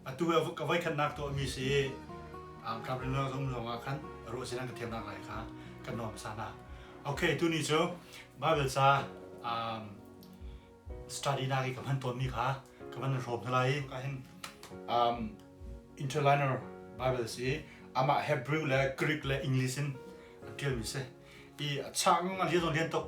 Atu ka voi khatnak tuahmi si Governor zong ruangah khan ruah sin an ka thiamnak lai kha kan nuam sa hna. Okay, tu ni cu Bible ca study na ka hman tuanmi kha ka van hrawm hna lai ka hin interliner Bible si amah Hebrew le Greek le English in tialmi si i a chak ngang a lian lian tuk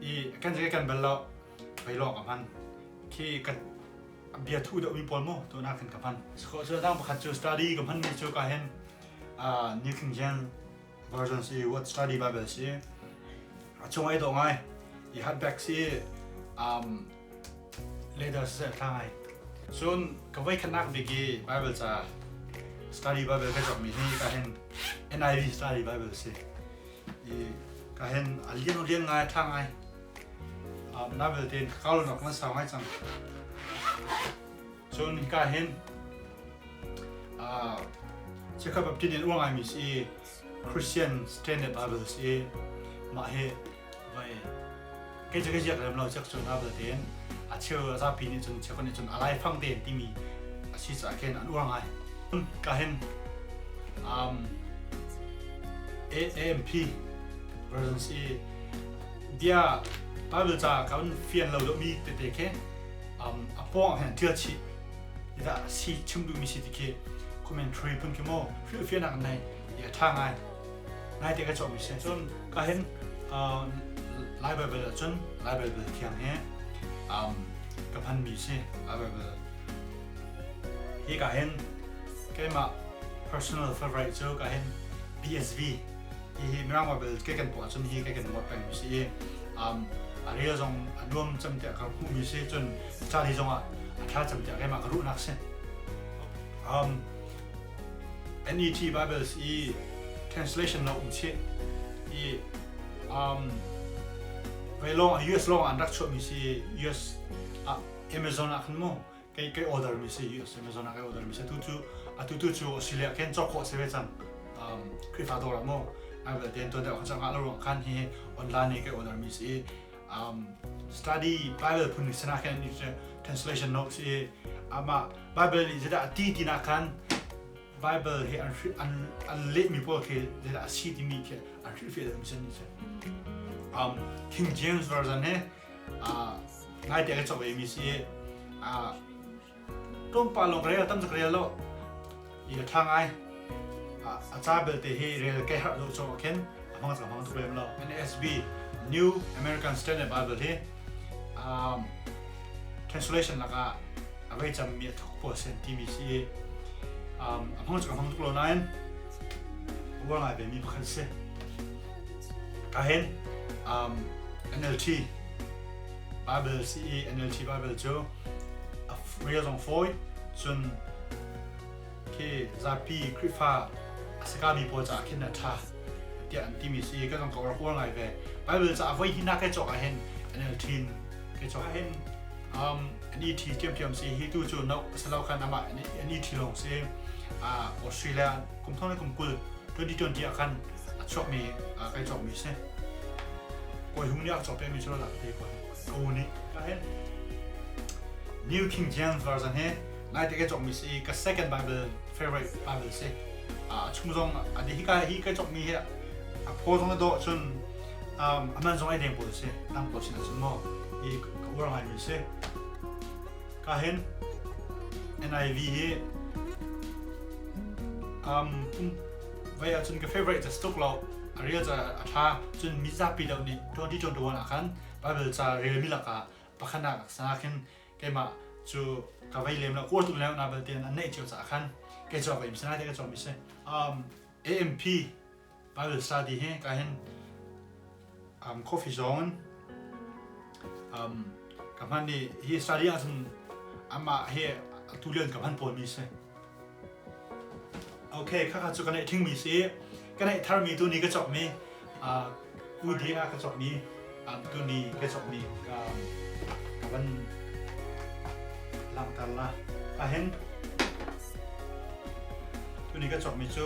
i kan zai kan bal lo vai lawng ka hman khi kan bia thu deuh mi pawl mu tu na kan ka hman ko chu dang pakhat chu study ka hman mi chu ka hen uh, New King James versions i what study bible si a chung ai do ngai i hat back si um leather siseh thla ngai cun ka voi khatnak bik i bible ca study bible ka cokmi hi ka hen NIV study bible si i ka hen a lian rian ngai tha ngai na belte ka kau nok na sau ngai cang cun ka hen a chekha baptin in uangai mi si Christian Standard Bibles i mah hi vai kai je kai je lem lo chek chun abel ten a cheu za pi ni chun chekon ni chun alai fang ten timi a si cha ken an uang ai ka hen um AMP versions i dia Bible cha kan fian lo do mi te te khe um apong hen thil chi ida si chim duhmi si ti khi commentary pun khi mo feel feel nak nei ya tha ngai ngai te ka chong mi se chon ka hen lai bible chon lai bible thiang he um ka phan mi se lai bible hi ka hen keima personal favorite cho ka hen BSV hi mirang bible ke kan po chon hi ke kan wat peng mi si um a real zong a nuam cham te ka hu mi se chon Ca hi zongah a thlacam tiah keimah ka ruhnak si. Um, NET Bibles i translation lo um chih i um, ve long US long an rak chuah mi si US ah Amazon ah khan mu kai kai order mi si US Amazon ah kai order mi si tu cu atu tu cu Australia ken chok ko se ve chang um, Krifa dor mu ai bel den to da khan chang ha lo rang khan hi online ne kai order mi si um, study Bible phun sana khan translation notes e ama Bible ni jada ti ti na khan Bible he an an an le mi paul ke jada si ti mi ke an ri fe dam sen ni se um King James version ne a ngai te ka chok e mi si a tlawmpal lawng rel tam tuk rel lo i a ṭha ngai a ca belte hi rel ke harh lo chung khin a hmang tuk hmang tuk lem lo NASB New American Standard Bible hi um, translation lakah a vei cammi a thok puwa sen timi si um, a hmang tuk a hmang tuk lo nain uar ngai vemi pakhat si ka hin um, NLT Baibal si i NLT Baibal cu a rel zong fawi cun khi zapi Khrihfa a sakami pawl caah khin a ṭha tiah an timi si kan ka rak uar ngai ve Baibal caah voi hina kai cawk ah hin NLT in kai cawk ah hin um an i ṭhi thiamthiam si hi tu cu no asilo khan amah an i ṭhi lawng si Australia kum thong le kum kul 2020 ah khan a chuakmi kai cawkmi si kawi hung nih a cawk pemi cu rak te kawi hung ko nih ka hen New King James version he nai te kai cawkmi si ka second Bible favorite Bible si a chung zong a hi ka hi kai cawkmi hi a pho zong na do cun a man zong ai deng pawl si dang pawl sin cun mo i ka ura ngai mi si ka hen NIV hi um Vei ahcun ka favorite ca tuk lo a rel ca a ṭha cun mi zapi deuh nih ṭuanṭi ṭuanṭuan ah khan Baibal ca relmi lakah pakhat nak sang ah khin keimah cu ka vei lem lo uar tuk leng na belte an neih cio caah khan kei cu ka im sinai ti ka cawm i si um AMP Bible study hi ka hin um, coffee zone um, ka hman ni hi study ah cun ama he tu lian ka hman pawl mi si okay kha kha chu ka nei thing mi si ka nei thar mi tu ni ka chok mi uh, UDA ka chok mi um, tu ni ka chok mi ka ka van lang tar la a hen tu ni ka chok mi chu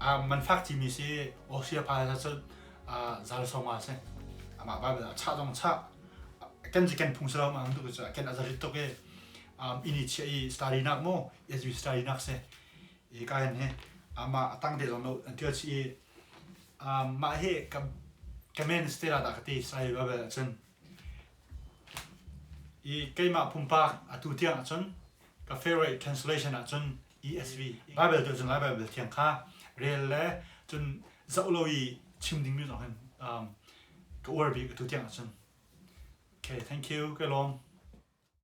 man fak cimi si Austria pa hla cu zal sawma si amah Bible a chah zong chah kan ji kan phung selo ma am tu cu kan azarit tuk i ini chia i study nak mu as you study nak si i ka hen he ama atang te zong no an tial chi i ma he ka kamen stela da kati sai Bible achun i keimah pumpak atu tiang achun ka favorite translation achun ESV, Baibal cu cun Lai Baibal Thiang kha rel le cun zoh lo i chim dingmi zong hin um, ka uar bik atu tiang ahcun. Okay, thank you, ka lawm.